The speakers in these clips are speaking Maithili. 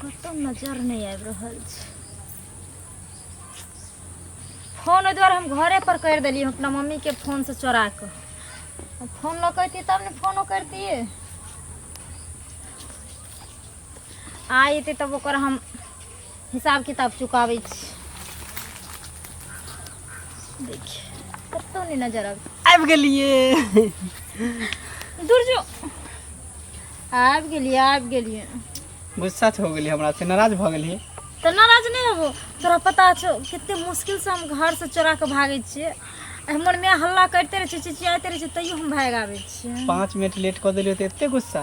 कतौ नजर नहीं आबि रहल छै फोन ओहि दुआरे हम घरे पर कर दिली अपना मम्मी के फोन से चोरा के फोन लऽ कैती तब ने फोनो करतियै आ एतै तब ओकर हम हिसाब किताब चुकाबै छी देखिए कतौ नहि नजर आब आबि गेलिए दूर जो आबि गेलिए आबि गेलिए गुस्सा हो गेलिए हमरा से नाराज भऽ गेलिए तऽ नाराज नहि हेबो तोरा पता छौ कते मुश्किल से हम घर से चोरा के भागे छियै हमर माय हल्ला करते रहे छै चिचियाते रहे छै तैयो हम भागि आबै छियै पाँच मिनट लेट कऽ देलिए तऽ एते गुस्सा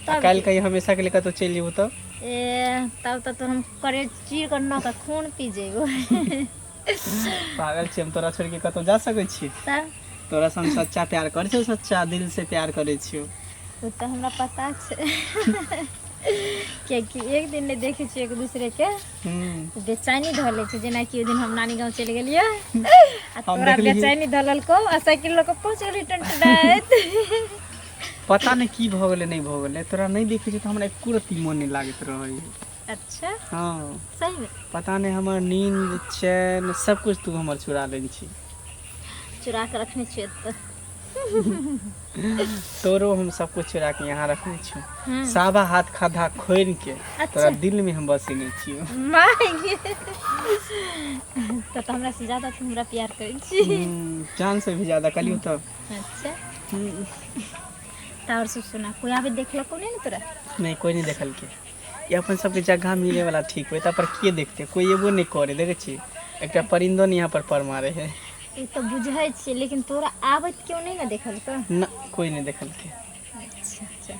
आ तब काल्हि की कहियो हमेशा के लिए कतहु चलि जेबौ तऽ ए तब तऽ तो हम करे चीर के न के खून पी जेबो पागल छियै हम तोरा छोड़िक कतहु जा सकै छियै तब तोरा सँ हम सच्चा प्यार करै छियौ सच्चा दिल से प्यार करै छियौ ओ तऽ हमरा पता छै कियकि एक दिन नहि देखै छियै एक दूसरे के हूँ तऽ बेचैनी धऽ लै छै जेनाकि ओहि दिन हम नानी गाँव चलि गेलियै आ हम तोरा देखलिही। बेचैनी धऽ लेलको आ साइकिल लऽ कऽ पहुँच गेली टनटनाइत पता नहि की भऽ गेलै नहि भऽ गेलै तोरा नहि देखै छियै तऽ हमरा एक्को रति मोन नहि लागैत रहै अच्छा हँ सही मे पता नहि हमर नीन्द चैन सबकिछु तू हमर चुरा लै छी चुरा कऽ रखने छियै एतऽ तोरो हम सबकिछु चुरा कऽ यहाँ रखने छियौ हम्म। साबा हाथ खाधा खोलि के अच्छा। तोरा दिल मे हम बसेने छियौ माय गे। तऽ तऽ हमरा से ज्यादा तू हमरा प्यार करै छी हम्म, जान से भी ज्यादा कलियौ तऽ अच्छा हम्म, तऽ आओर सब सुना कोइ आबे देखलको नहि ने तोरा नहीं कोई नहीं देखल के ये अपन सबके जगह मिले वाला ठीक होता पर के देखते कोई एबो नहीं करे देखे छी एकटा परिंदो नहीं यहाँ पर पर मारे है ई तऽ बुझै छियै लेकिन तोरा आबैत केओ नहि ने देखलको न कोई नहीं देखल के अच्छा अच्छा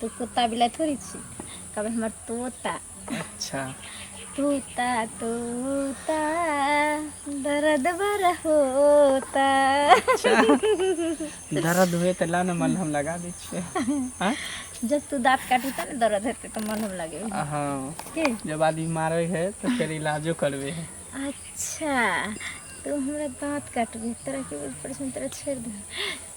तू कुत्ता बिलाइ थोड़ी छी कहबै हमर तोता अच्छा तोता तोता दर्द बर होता अच्छा दर्द हुए तऽ ला ने मलहम लगा दै छियै आँय? जब तू दाँत काटी तऽ ने दर्द हेतै तऽ मलहम लगे हँ की जब आदमी मारे है तऽ फेर इलाजो करबे है अच्छा तू हमरा दाँत काटबी तोरा की बोल पड़ै छै हम तोरा छोड़ि दे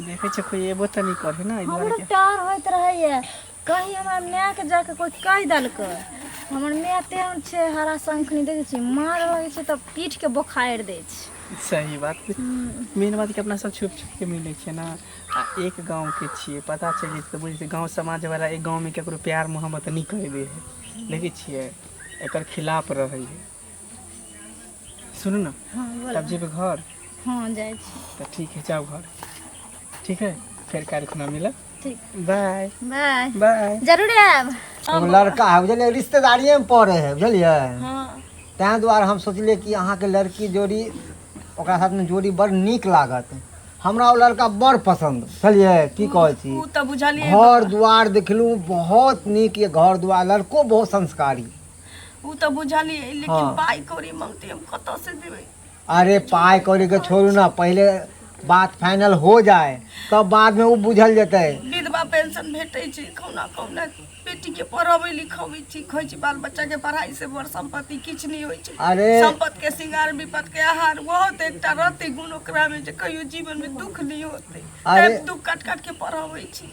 देखै छियै कोइ एबो तऽ नहि करै ने एहि हमर दुआरे डर होइत रहैया कही हमरा माय के जाक कोई कहि देलकै हमर माय तेहन छै हरा शंखनी देखे छी मार लगे छै तऽ पीठ के बोखारि दय छै कि सही बात मेन बात कि अपना सब छुप छुप के मिलै छियै ने आ एक गाँव के छियै पता चलि जेतै तऽ बुझै छियै गाँव समाज वाला एक गाँव मे केकरो प्यार मोहब्बत नहि करै दे है देखै छियै एकर खिलाफ रहै है सुनू ने हँ बोल तब जेबै घर हँ जाइ छी तऽ ठीक है जाउ घर ठीक है फेर काल्हि खुना मिलब ठीक बाय बाय बाय जरूर आयब एगो लड़का है बुझलियै रिश्तेदारिएमे पड़ै है बुझलियै हँ ताहि दुआरे हम सोचलियै कि अहाँके लड़की जोड़ी ओकरा साथमे जोड़ी बड़ नीक लागत हमरा ओ लड़का बड़ पसन्द बुझलियै की कहै छी ओ तऽ बुझलियै घर दुआर देखलहुँ बहुत नीक ये घर दुआर लड़को बहुत संस्कारी उ तो बुझाली है लेकिन हाँ। पाई कौड़ी मांगते हम कत से देवे अरे पाई कौड़ी के छोड़ू ना पहले बात फाइनल हो जाए तब तो बाद में वो बुझल जते विधवा पेंशन भेटे छी कौना कौना बेटी के पढ़ावे लिखावे छी खोई छी बाल बच्चा के पढ़ाई से बड़ संपत्ति किछ नहीं होई छी अरे संपत्ति के सिंगार विपत के आहार बहुत एकटा रहते गुण ओकरा में जे कहियो जीवन में दुख नहीं होते अरे दुख काट काट के पढ़ावे छी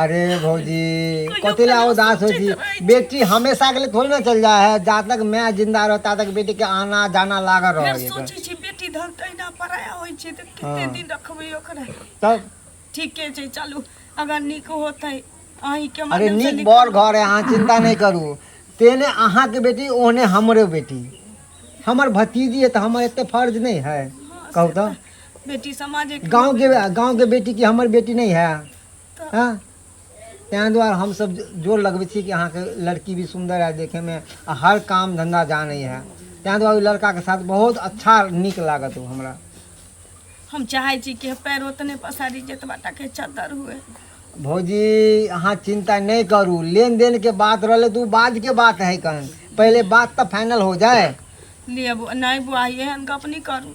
अरे भौजी कथी ला उदास हो जी बेटी हमेशा के लिए थोड़ी ना चल जाए है जहाँ तक मैं जिंदा रहो ता तक बेटी के आना जाना लागल फेर रहो सोचै छी बेटी धन तहिना पराया होइ छै तऽ कते हँ। दिन रखबै ओकरा तब ठीके छै चलू अगर नीक होतै अहीं के अरे माध्यम से नीक नीक बड़ घर है अहाँ चिंता नहीं करू तेने अहाँ के बेटी ओहने हमरे बेटी हमर भतीजी है तो हमर एते फर्ज नहीं है कहू तो बेटी समाज एक गाँव के गाँव के बेटी की हमर बेटी नहीं है हाँ ताहि दुआरे हमसभ जोर लगबै छी कि अहाँके लड़की भी सुन्दर है देखैमे आ हर काम धन्धा जानै है ताहि दुआरे ओहि लड़काके साथ बहुत अच्छा नीक लागत ओ हमरा हम चाहै छी कि पैर ओतने पसारी जेतबा टाके चद्दर हुए भौजी अहाँ चिन्ता नहि करू लेन देन के बात रहलै तऽ ओ बाद के बात है कन पहिले बात तऽ फाइनल हो जाए लिए बु- नहि बुआ एहन गप नहि करू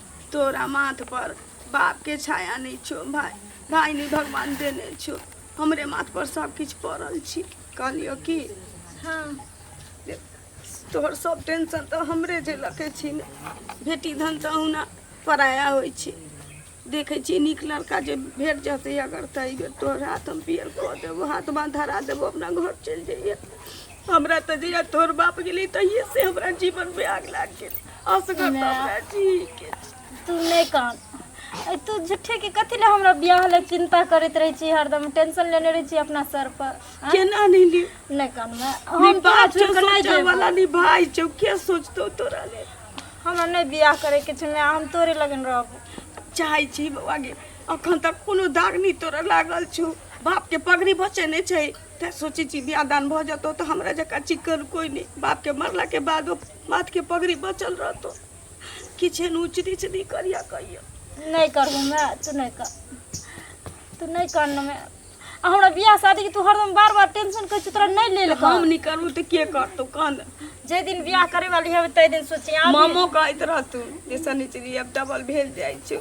तोरा माथ पर बाप के छाया नै छो भाय भाय नै भगवान देने छो हमरे माथ पर सब किछ पड़ल छी कहलियो कि हाँ तोहर सब टेंशन तो हमरे जे लके छी ने बेटी धन तो हुना पराया होय छी देखे छी नीक लड़का जे भेट जते अगर त ई बेर तोहर हाथ हम पियर क देबो हाथ बांध धरा देबो अपना घर चल जाइए हमरा तो जहिया तोहर बाप गेली तहिए से हमरा जीवन में आग लाग गेल असगर ने। हमरा ठीक अछि तू नहि कान ऐ तू झूठे के कथी लए हमरा बियाह लए चिन्ता करैत रहै छी हरदम टेंशन लेने रहै छी अपना सर पर आँय? केना नहि ली नहि कान मैं हम हम तोरा बात छोड़ के नहीं सोचै जेबो। वाला नहीं भाई छौ के सोचतौ तोरा ले हमरा नहि बियाह करे के छै मैं हम तोरे लगन रहबो चाहै छी बौआ गे अखन तक कोनो दाग नहि तोरा लागल छौ बाप के पगड़ी बचे नहि छै तैं सोचै छी बियाह दान भऽ जेतौ तऽ हमरा जकाँ चिक्कन कोइ नहि बाप के मरला के बादो माथ के पगड़ी बचल रहतो किछ एहन उच नीच नहीं करिया कहियो नहीं करबो मैं तू नहीं कर तू नहीं करना मैं आ हमरा बियाह शादी के तू हरदम बार बार टेंशन कर तोरा नहीं ले लेबो हम नहीं करबो तो के करतो कान जे दिन बियाह करे वाली है तै दिन सोचे आ मामो कहत रहतू जे शनिचरी अब डबल भेल जाइ छौ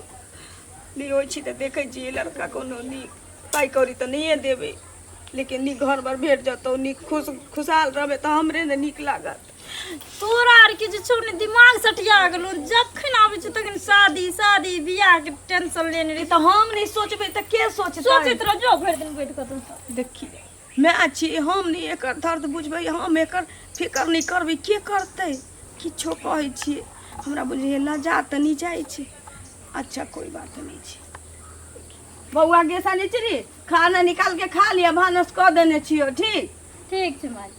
नहीं होइ छी तऽ देखै छी लड़का कोनो नीक पाइ कौड़ी तऽ नहिए देबै लेकिन नीक घर पर भेट जतौ नीक खुश खुशहाल रहबै तऽ हमरे ने नीक लागत तोरा आर के जे छौ ने दिमाग सटिया गेलौ जखन आबै छौ तखन शादी शादी बियाह के टेंशन लेने रही तऽ हम नहि सोचबै तऽ के सोचतै सोचैत रह जो भरि दिन बैठ कऽ तू देखी माय छी हम नहि एकर दर्द बुझबै हम एकर फिकर नहि करबै के करतै किछो कहै छियै हमरा बुझैए लजा तऽ नहि जाइ छै अच्छा कोई बात नहि छै बौआ गेसा नहि छी खाना निकाल के खा लिअ भानस कऽ देने छियौ ठीक ठीक छै माय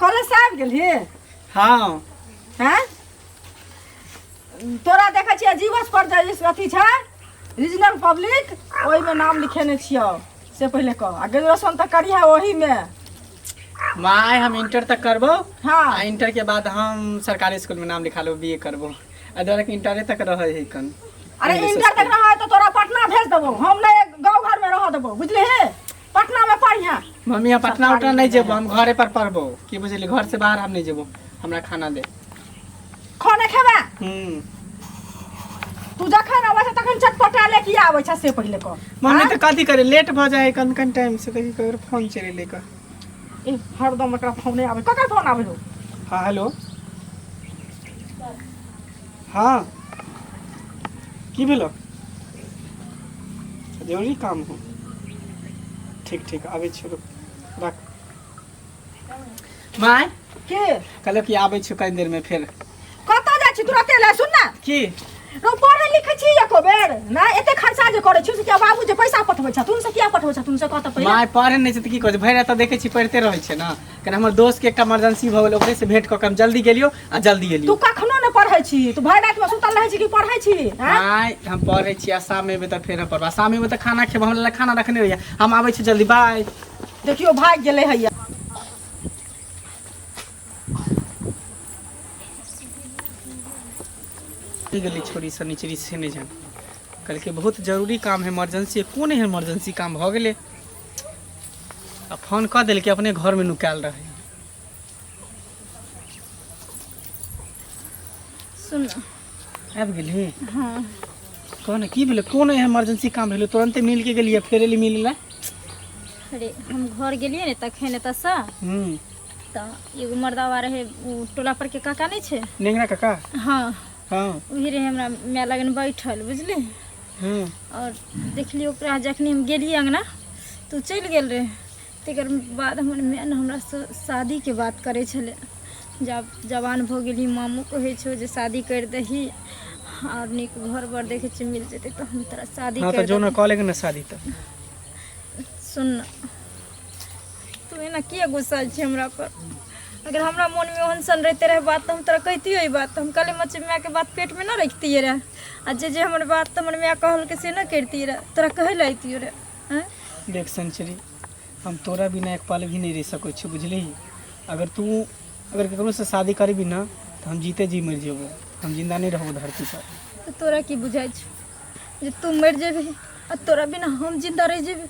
कॉलेज से आबि गेलही हाँ हैं तोरा देखै छियै जीवस पर जे इस- अथी छै रीजनल पब्लिक ओहिमे नाम लिखेने छियौ से पहिले कह आ ग्रेजुएशन तऽ करिहे ओहीमे माय हम इंटर तक करबो आ हँ इंटर के बाद हम सरकारी स्कूल में नाम लिखा लो बी ए करबो आ डायरेक्ट इंटरे तक रहे है कन अरे इंटर तक रहै तऽ तोरा पटना भेज देबौ हम नहि गाँव घरमे रहऽ देबौ बुझलिही पटना में पढ़िया मम्मी हम पटना उटना नहीं जेबो हम घरे पर पढ़बो की बुझली घर से बाहर हम नहीं जेबो हमरा खाना दे खाना खेबा हम्म तू जखन अबै छै तखन चटपटा ले की आबै छै से पहिले कह मम्मी तो कथी करे लेट भ जाए कन कन टाइम से देखी ककर फोन चले ले का ए हरदम एकरा फोन आबै ककर फोन आबै हो हाँ हेलो हाँ की भेलो जरूरी काम हो ठीक ठीक आबै छियौ रुक रख माय के कहलो कि आबै छियौ कनी देर में फेर कतऽ जाइ छी तुरते लए सुन ना की रौ पढ़ै लिखै छी एको बेर ना एते खर्चा जे करै छी से किया बाबू जे पैसा पठबै छथुन से किया पठबै छथुन से कतऽ पहिले माय पढ़े नहि छै तऽ की करै छै भरि रात तऽ देखै छी पढ़िते रहै छै ने कने हमर दोस्त के एकटा इमरजेंसी भऽ गेल ओकरे से भेंट कऽ के हम जल्दी गेलियो आ जल्दी तू एलियो कखनो ने पढ़ै छी तू भरि राति में सुतल रहै छी कि पढ़ै छी हैं? आय हम पढ़ै छी आ शाम एबै तऽ फेर हम पढ़बै शाम एबै तऽ खाना खेबै हमरा लए खाना रखने रहियै हम आबै छी जल्दी बाय देखियो भागि गेलै हैया की गेली छोरी से निचरी से नहि जान कहलकै बहुत जरूरी काम है इमरजेंसी कोन एहन इमरजेंसी काम भऽ गेलै आ फोन कऽ देलकै अपने घर में नुकायल रहे सुन आबि गेली हाँ कह ने की भेलै कोन एहन इमरजेंसी काम भेलै तुरंते मिल के गेलियै फेर एली मिले ला अरे हम घर गेलियै ने तखन एतऽ से हूँ तऽ एगो मर्दावा रहै ओ टोला पर के काका नहि छै नेंगरा काका हाँ हँ ओही रहै हमरा माय लगन बैठल बुझली हँ आओर देखली ओकरा जखनी हम गेलियै अङ्गना तऽ ओ चलि गेल रहै तकर बाद हमर माय ने हमरासँ शादीके बात करै छलै जब जवान भऽ गेली मामू कहै छौ जे शादी करि दही आओर नीक घर बर देखै छियै मिल जेतै तऽ हम तोरा शादी हँ तऽ करि जो ने देबौ कऽ लेके ने शादी तऽ सुन तू एना किए गुस्सा छी हमरा पर अगर हमरा मन में ओहन सन रहते रहे बात तो हम तोरा कहतियो ई बात हम कल मच माय के बात पेट में ना रखतिए रहे आ जे जे हमर बात तो हमर माय कहल के से ना करती रहे तोरा कहे ला अतियो रहे हैं? देख संचरी हम तोरा बिना एक पल भी नहीं रह सको छी बुझली अगर तू अगर केकरो से शादी करबी ना तो हम जीते जी मर जेबो हम जिंदा नहीं रहबो धरती पर तो तोरा की बुझाई छै जे तू मर जेबी आ तोरा बिना हम जिंदा रह जेबी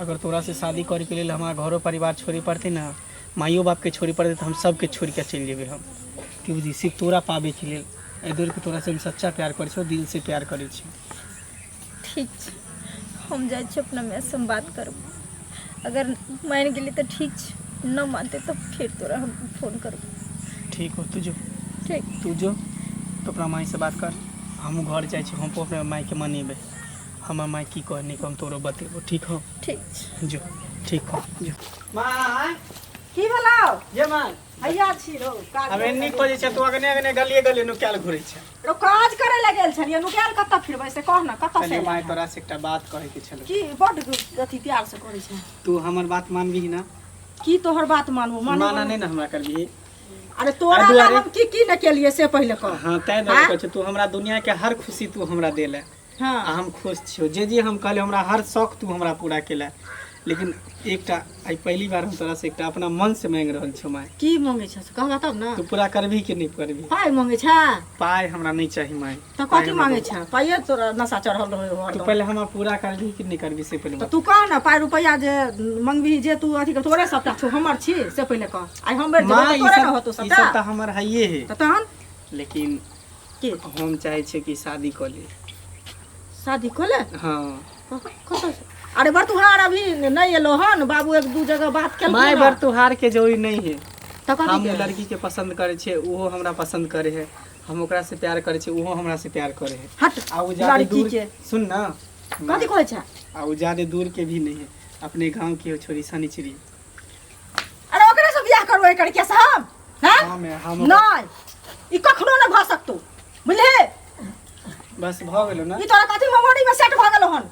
अगर तोरा से शादी करे के लेल हमारा घरो परिवार छोड़े पड़ते ना माइयो बाप के छोड़े पड़ते तो हम सबके छोड़ के चल जेबे हम की बुझी सिर्फ तोरा पाबे के लेल एहि दुआरे कि तोरा से हम सच्चा प्यार करे छो दिल से प्यार करे छी ठीक छै हम जाइ छी अपना माय से हम बात करब अगर मानि गेली तऽ ठीक छै न मानते तऽ फेर तोरा हम फोन करब ठीक हो तू जो ठीक तू जो तो अपना माई से बात कर हमहूँ घर जाइ छी हम अपना माई के मनेबै हमर माय की कहे निकम तोरो बतेबो ठीक हो ठीक छै जो ठीक हो जो माय की भेलौ जे माय हैया छी रौ काज अब एन्नी करै खोजे छै तू अगने अगने गलिए गलिए नुकायल घुरे छै रौ काज करे लए गेल छलियै नुकायल कतऽ फिरबै से कह ने कतऽ से चलिए माय एलै? तोरा से एकटा बात कहे के छलो की बड अथी प्यार से करै छै तू हमर बात मानबीही ना की तोहर बात मानू मानू माना मानू। नहि ना हमरा करबीही अरे तोरा अरे लए दुआरे। हम की की ने केलियै से पहिले कह हाँ तै दुआरे हाँ? कहै छै तू हमरा दुनिया के हर खुशी तू हमरा देले हाँ। आ हम खुश छियो जे जे हम कहले हमरा हर शौक तू हमरा पूरा केला लेकिन एकटा आई पहली बार हम तोरा से एकटा अपना मन से मांग रहल छो माय की मांगे छ कहबा तब ना तू पूरा करबी कि नहीं करबी पाई मांगे छ पाय हमरा नहीं चाही माय त पाय कथी हमरा मांगे बहुत- छ पाइए तोरा नशा चढ़ल रहे हो तू हरदम। पहले हमरा पूरा करबी कि नहीं करबी से पहले त बता। तू कह ना पाई रुपैया जे मंगबी जे तू अथी कर तोरे सबटा छो हमर छी से पहिले कह आई हम बैठ माय जेबो ई तोरे ना सब होतो ई सब सबटा त हमर हइये है त तहन लेकिन के हम चाहै छियै कि शादी कऽ ली शादी कऽ ले हँ कतऽ से? अरे बरतुहार अभी नहि एलो हन बाबू एक दू जगह बात केलखिन माय हन। बरतुहार के जोड़ी नहीं है तऽ कथी हम के? ओ लड़की के पसंद करे छे ओहो हमरा पसंद करे है हम ओकरा से प्यार करे छे ओहो हमरा से प्यार करे है हट आ उ ज्यादा लड़की दूर के सुन ना कथी कहै छै आ उ ज्यादा दूर के भी नहीं है अपने गांव के हो छोरी सनिचरी अरे ओकरे से बियाह करू एकर के से हम हां हाँ, मैं हम नहीं ई कखनो न भ सकतो बुझले बस भ गेलो ना ई तोरा कथि मेमोरी में सेट भ गेलो हन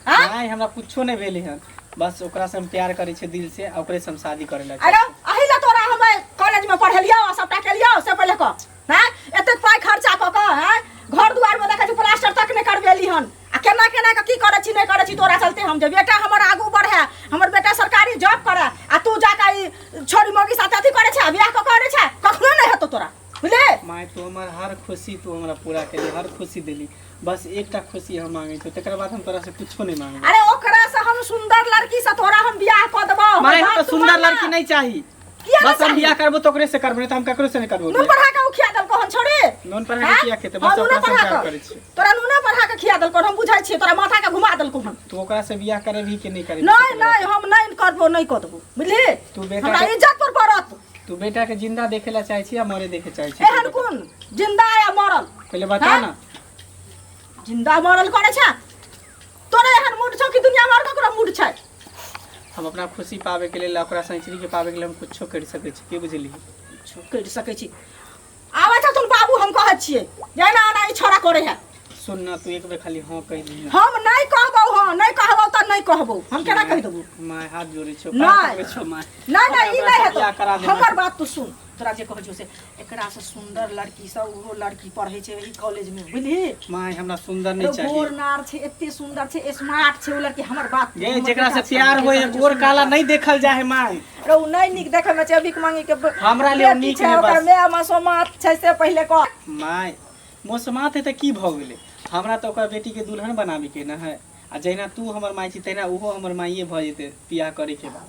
हां नहीं हमरा कुछो नहीं भेले हन बस ओकरा से हम प्यार करे छे दिल से ओकरे से हम शादी करे लगे अरे अही ला तोरा हम कॉलेज में पढ़लियो आ सबटा केलियो से पहिले क हां एते पाई खर्चा क क हां घर दुआर में देखै छी प्लास्टर तक नहीं करबेली हन आ केना केना के की करे छी नहीं करे छी तोरा चलते हम जे बेटा हमर आगू बढ़े हमर बेटा सरकारी जॉब करे आ तू जाके ई छोरी मोगी साथ अथी करे छे बियाह क करे छे कखनो नहीं हेतो तोरा बुझले माय तू हमर हर खुशी तू हमरा पूरा केली हर खुशी देली बस एकटा खुशी हम मांगे छी तकर बाद हम तोरा से कुछो नहीं मांगे अरे ओकरा से हम सुंदर लड़की से तोरा हम बियाह क देबो माय हमरा सुंदर लड़की नहीं चाहिए किया बस हम चाही? बियाह करबो तो ओकरे से करबो नहीं तो हम ककरो से नहीं करबो नून बियाह। पढ़ा के उ खिया देल कहन छोड़े नून पर आके किया खेते बस ओकरा से प्यार करे छी तोरा नूने पढ़ा के खिया देल कहन हम बुझाई छियै तोरा माथा के घुमा देल कहन तू ओकरा से बियाह करे भी कि नहीं करे नहीं नहीं हम नहीं करबो नहीं करबो बुझली तू बेटा हमरा के- इज्जत पर पड़त तू बेटा के जिंदा देखे ला चाहे छी या मरे देखे चाहे छी एहन कोन जिंदा या मरल पहले बता हाँ? ना जिंदा मरल करे छै तोरे एहन मूड छौ कि दुनिया में और ककरो मूड छै हम अपना खुशी पावे के लेल ओकरा सैचरी के पावे के लेल हम कुछो कर सके छी के बुझली कुछो कर सके छी आवे त तुम बाबू हम कहै छिए जाना आना ई छोरा करे है सुन ना तू एक बेर खाली हां कह दी हम नहीं कहबो हां नहीं कहबो त नहीं कहबो हम केना कह देबो माय हाथ जोड़े छो नहीं छो माय नहीं नहीं ई नहीं है तो हमर बात तू सुन तोरा जे कहै छौ से एकरासँ सुन्दर लड़कीसभ ओहो लड़की पढ़ै छै एहि कॉलेजमे बुझली माय हमरा सुन्दर नहि चाही गोर नार छै एते सुन्दर छै स्मार्ट छै ओ लड़की हमर बात गे हमर जेकरा से बेटा छै, प्यार हमर होय बेटा छै, गोर सुन्दर काला छै। नहि देखल जाय है माय रे ओ नहि नीक देखै मे छै भीख मांगी के ब- हमरा लिए ओ बेटी नीक छै, है ओकर बस। माय मसोमात छै से पहिले कह माय मोसमात है तऽ की भऽ गेलै हमरा तऽ ओकर बेटीके दुल्हन बनाबेके न है आ जहिना तू हमर माय छी तहिना ओहो हमर माइए भऽ जेतै बियाह करैके बाद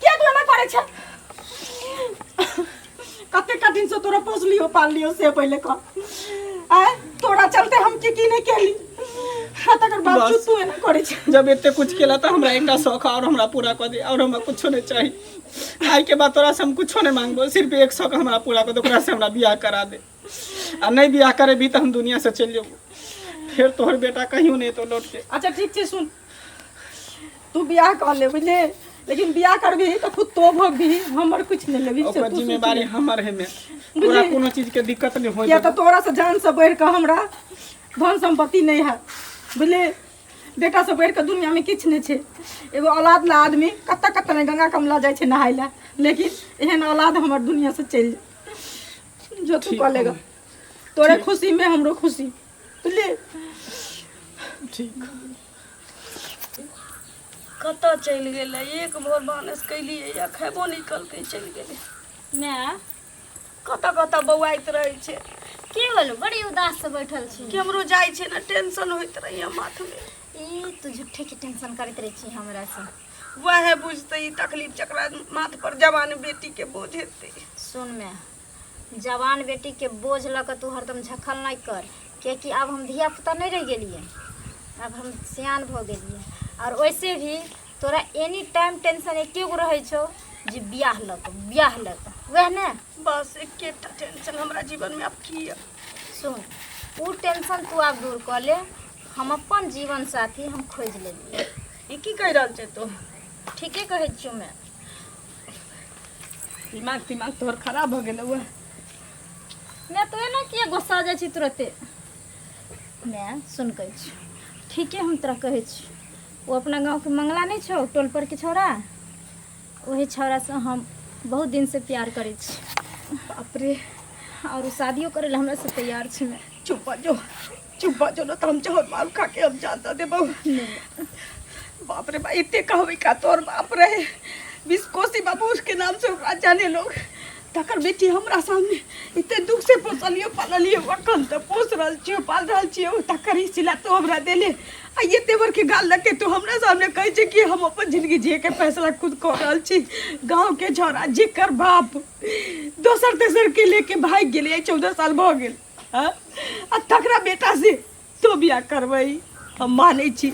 किया तू एना करै छ कते का दिन से तोरा पोसलियो पाललियो से पहले का आय तोरा चलते हम की की नहीं केली हाँ तकर बावजूद तू एना करै छ जब इतने कुछ केला तो हमरा एक शौक और हमरा पूरा कर दे और हमरा कुछ नहीं चाहिए आई के बाद तोरा से हम कुछ नहीं मांगबो सिर्फ एक शौक हमरा पूरा कर दे ओकरा से हमरा बियाह करा दे आ नहीं बियाह करे भी तो हम दुनिया से चल जेबो फिर तोहर बेटा कहीं नहीं तो लौट के अच्छा ठीक छै सुन तू बियाह कर ले बुझले लेकिन बियाह करबी तो खुद तो भोगबी हमर कुछ नहीं लेबी से ओकर तू जिम्मेवारी हमर है में बुझलियै? तोरा कोनो चीज के दिक्कत नहीं हो या तो तोरा से जान से बढ़ के हमरा धन संपत्ति नहीं है बुझले बेटा से बढ़ के दुनिया में किछु नहीं छै एगो औलाद ला आदमी कत्ता कत्ता ने गंगा कमला जाइ छै नहाय ला लेकिन एहन औलाद हमर दुनिया से चलि जाय जो तू ठीक कऽ लेगा तोरे खुशी में हमरो खुशी ले ठीक कतऽ चलि गेलै एक भोर भानस कैलियै या खेबो नहि कलकै चलि गेलै माय कतऽ कतऽ बौआइत रहै छै की होल बड़ी उदास से बैठल छी केमरो जाइ छै ने टेंशन होइत रहैया माथमे ई तू झूठे के टेंशन करैत रहे छी हमरा से वएह बुझतै ई तकलीफ जकरा माथ पर जवान बेटी के बोझ हेतै सुन माय जवान बेटीके बोझ लऽ कऽ तू हरदम झखल नहि कर किएकि आब हम धियापुता नहि रहि गेलियै आब हम सियान भऽ गेलियै आओर ओइसे भी तोरा एनी टाइम टेंशन एके गो रहै छौ जे बियाह लऽ कऽ बियाह लऽ कऽ वएह ने बस एकेटा टेंशन हमरा जीवनमे आब की यऽ सुन ओ टेंशन तू आब दूर कऽ ले हम अपन जीवन साथी हम खोजि लेलियै ई की कहि रहल छै तू ठीके कहै छियौ मैं दिमाग तिमाग तोहर खराब भऽ गेलौ उएह माय तोहे ने किए गोस्सा जाइ छी तुरते माय सुन कहै छी ठीके हम तोरा कहै छी ओ अपना गाँवके मंगला नहि छौ टोल परके छौड़ा ओहे छौड़ासँ हम बहुत दिनसँ प्यार करै छी अपरे आओर ओ शादियो करै लए हमरासँ तैयार छै माय चुप जो चुप बा जो ना त हम जहर मारू खा के हम जानता दे बहु बाप रे बा इतने कहवे का तोर बाप रे बीस कोसी बाबू उसके नाम से ओकरा जाने लोग तकर बेटी हमरा सामने इतने दुख से पोसलियो पाललियो वकन त पोस रहल छियो पाल रहल छियो तकर ही सिला तो हमरा देले आ ये तेवर के गाल लग के तू हमरा सामने कहै छै कि हम अपन जिंदगी जिए के फैसला खुद कर रहल छी गांव के झोरा जेकर बाप दोसर तेसर के लेके भाग गेलै चौदह साल भऽ गेल हाँ? आ तकरा बेटा से तो बियाह करबई हम मानै छी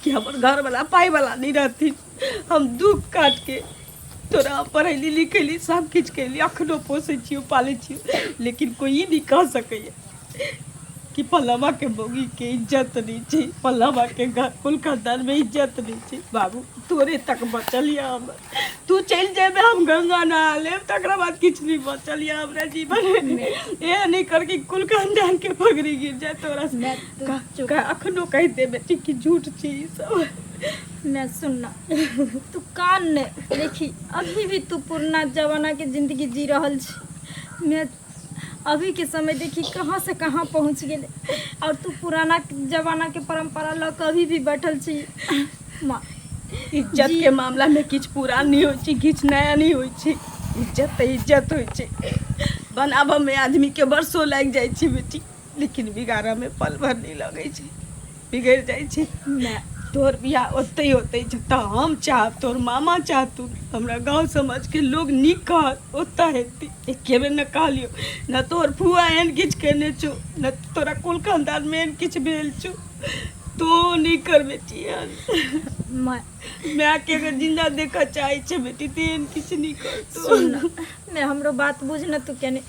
कि हमर घर वाला पाई वाला नहीं रहती हम दुख काट के तोरा पढ़ैली लिखैली सब किछु कैली अखनो पोसै छियौ पालै छियौ लेकिन कोई ई नहीं कह सकैए कि पल्लवा के मौगी के इज्जत नहीं छै पल्लवा के घर कुल खानदान में इज्जत नहीं छै बाबू तोरे तक बचल यऽ हमर तू चलि जेबे हम गंगा नहा लेब तकरा बाद किछु नहीं बचल या हमरा जीवन में एह नहीं कर कि कुल खानदान के पगड़ी गिर जाए तोरा से मैं तो का- चुप का- अखनो कहि देबे ती कि झूठ छी ई सब मैं सुनना तू कान ने देखी अभी भी तू पुरना जमाना के जिंदगी जी रहल छी मैं अभी के समय देखी कहाँ से कहाँ पहुँच गेले और तू पुराना जमाना के परंपरा ल कभी भी बैठल छी माँ इज्जत जी। के मामला में किछ पुरान नहीं होय छै किछ नया नहीं होय छै इज्जत तऽ इज्जत होय छै बनाबऽ में आदमी के वर्षो लागि जाइ छै बेटी लेकिन बिगाड़ऽ में पल भर नहीं लगे छै बिगड़ जाए छै ना तोर बियाह ओतै होतै जतऽ हम चाहब तोर मामा चाहतू हमरा गाँव समाज के लोग नीक कहत ओतऽ हेतै एके बेर न कहलियो न तोर फुआ एहन किछु केने छौ न तोरा कुल खानदान में एहन किछु भेल छौ तो नहीं कर बेटी एहन माय माय के अगर जिंदा देखऽ चाहे छै बेटी तो एहन किछु नहीं करतो सुन ना माय हमरो बात बुझ ना तू केने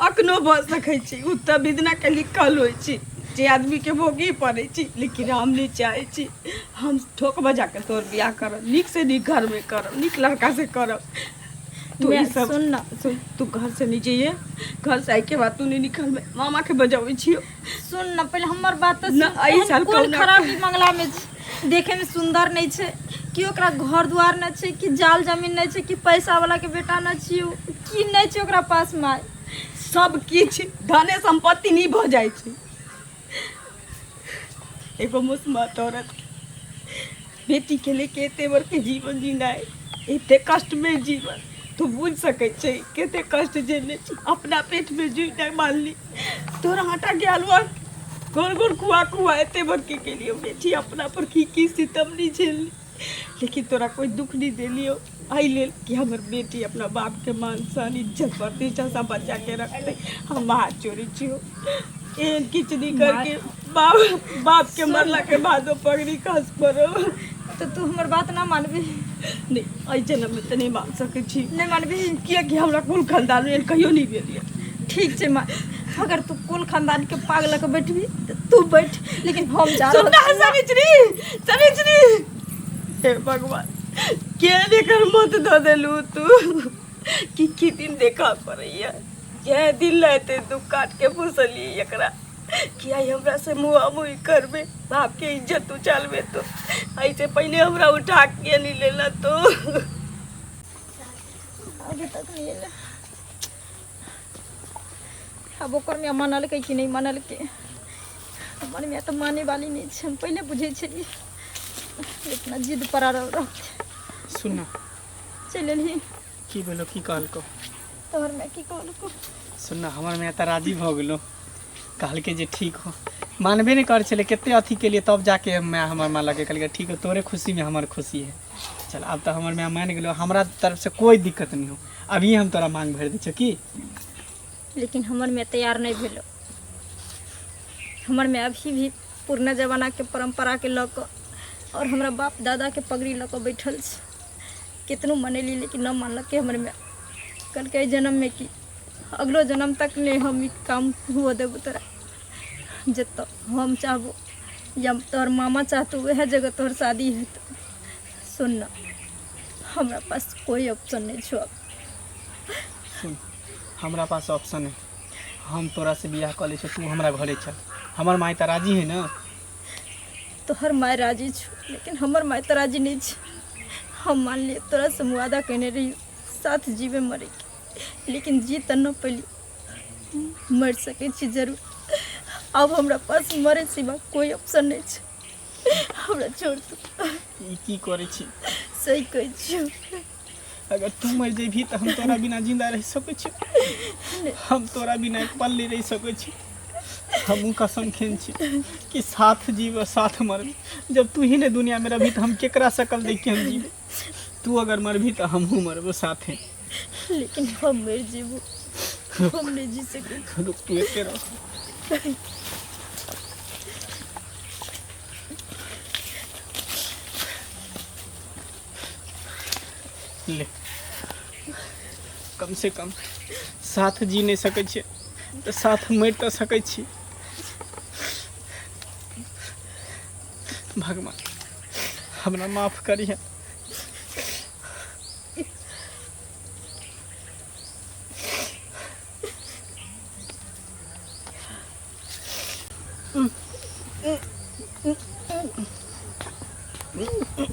अखनो भऽ सकैत छी ओ तऽ विदनाके लिखल होइत छी जे आदमीके भोगी पड़ैत छी लेकिन हम नहि चाहैत छी हम ठोक बजाके तोर बियाह करब नीकसँ नीक घरमे करब नीक लड़कासँ करब तू ई सब सुन ने सुन तू घरसँ नहि जइए घरसँ आइके बाद तू नहि निकलबै मामाके बजबै छियौ सुन न पहिले हमर बात तऽ न, सुन एहि एहन साल कोन कहुना- खराबी मंगला में छै देखे में सुंदर नहीं छै कि ओकरा घर द्वार न छै कि जाल जमीन नहीं छै कि पैसा वाला के बेटा न छी उ की नहीं छै ओकरा पास माय सब किछ धने संपत्ति नहीं भऽ जाइ छै एगो मुसमत औरत के बेटी के लेके एते बड़के जीवन जीनाइ एते कष्ट में जीवन तू बुझ सके छै केते कष्ट जेने छी अपना पेट में जुई नहीं मानली तोरा आटा के हलवा गोर गोर कुआ कुआ एते बड़के के लिए बेटी अपना पर की की सितम नहीं झेलली लेकिन तोरा कोई दुख नहीं देलियो एहि लेल कि हमर बेटी अपना बापके मान सन इज्जत प्रतिष्ठा सब बचा के रखते हम हाथ जोड़े छी एहन किछु नहीं करके बाप बाप के मरला के बाद ओ पगड़ी खस पड़ो तो तू हमर बात ना मानबी नहीं एहि जन्म में तो नहीं मान सके छी नहीं मानबी कियाकि हमरा कुल खानदान में एहन कहियो नहीं भेल यऽ ठीक छै माँ अगर तू कुल खानदान के पाग लऽ के बैठबी तऽ तू बैठ लेकिन हम जा रहल सुनना सनिचरी सनिचरी हे भगवान के एकर मत दऽ देलू तू कि की दिन देखा पड़ैया यह दिन लहते दुख काट के पोसली एकरा कि आई हमरा से मुआ मुई करबे बाप के इज्जत उचालबे तो ऐसे पहले हमरा उठा के नहीं लेला तो अभी तक नहीं आइल। अब ओकर में मनल के कि नहीं मनल के हमर में तऽ माने वाली नहीं छै हम पहिले बुझै छलियै इतना जिद पर रह रह सुन ना चल एलही की बोलो की कहलको तोहर मैं की कहलको सुन ना हमर में तऽ राजी भऽ गेलो कहलकै जे ठीक हो मानबे नहि करै छलै कते अथी केलिए तब जाके माय हमर माँ लगे कहलकै ठीक हो तोरे खुशीमे हमर खुशी है चल आब तऽ हमर माय मानि गेलो हमरा तरफसँ कोइ दिक्कत नहि हो अभी हम तोरा मांग भरि दै छियौ की लेकिन हमर मैं तैयार नहीं भेलो हमर मैं अभी भी पुरना जमानाके परम्पराके लऽ कऽ आओर हमरा बाप दादाके पगड़ी लऽ कऽ बैठल छै कितनो मनेली लेकिन नहि मानलकै हमर माय कहलकै एहि जन्ममे कि अगलो जन्म तक नहि हम ई काम हुअ देबो तोरा जतऽ हम चाहबो या तोहर मामा चाहतो वएह जगह तोहर शादी हेतौ सुन ना हमरा पास कोई ऑप्शन नहीं छो अब सुन हमरा पास ऑप्शन है हम तोरा से बियाह कर ले तू हमरा घरे चल हमर माई त राजी है ना तोहर माय राजी छो लेकिन हमर माय तो राजी नहीं छे हम मान लिए तोरा से मुआदा कहने रही साथ जीवे मरे के लेकिन जी त न पली मर सके छी जरूर अब हमरा पास मरे सिवा कोई ऑप्शन नहीं छे हमरा छोड़ तू ई की करे छी सही कह छियो अगर तू मर जेबही तऽ हम तोरा बिना जिंदा रह सकै छी हम तोरा बिना एक पल नहीं रह सकै छी हमहूँ कसम खेन छी कि साथ जीव साथ मरबी जब तू ही ने दुनिया में रहबी तो हम केकरा सकल देख के हम जीवे तू अगर मरबी तो हमहूँ मरबो साथे लेकिन हम मर जेबू हम नहीं जी सके रुक तू एते रह ले कमसँ कम साथ जी नहि सकै छियै तऽ साथ मरि तऽ सकै छी भगवान हमरा माफ करिहे Mm-hmm.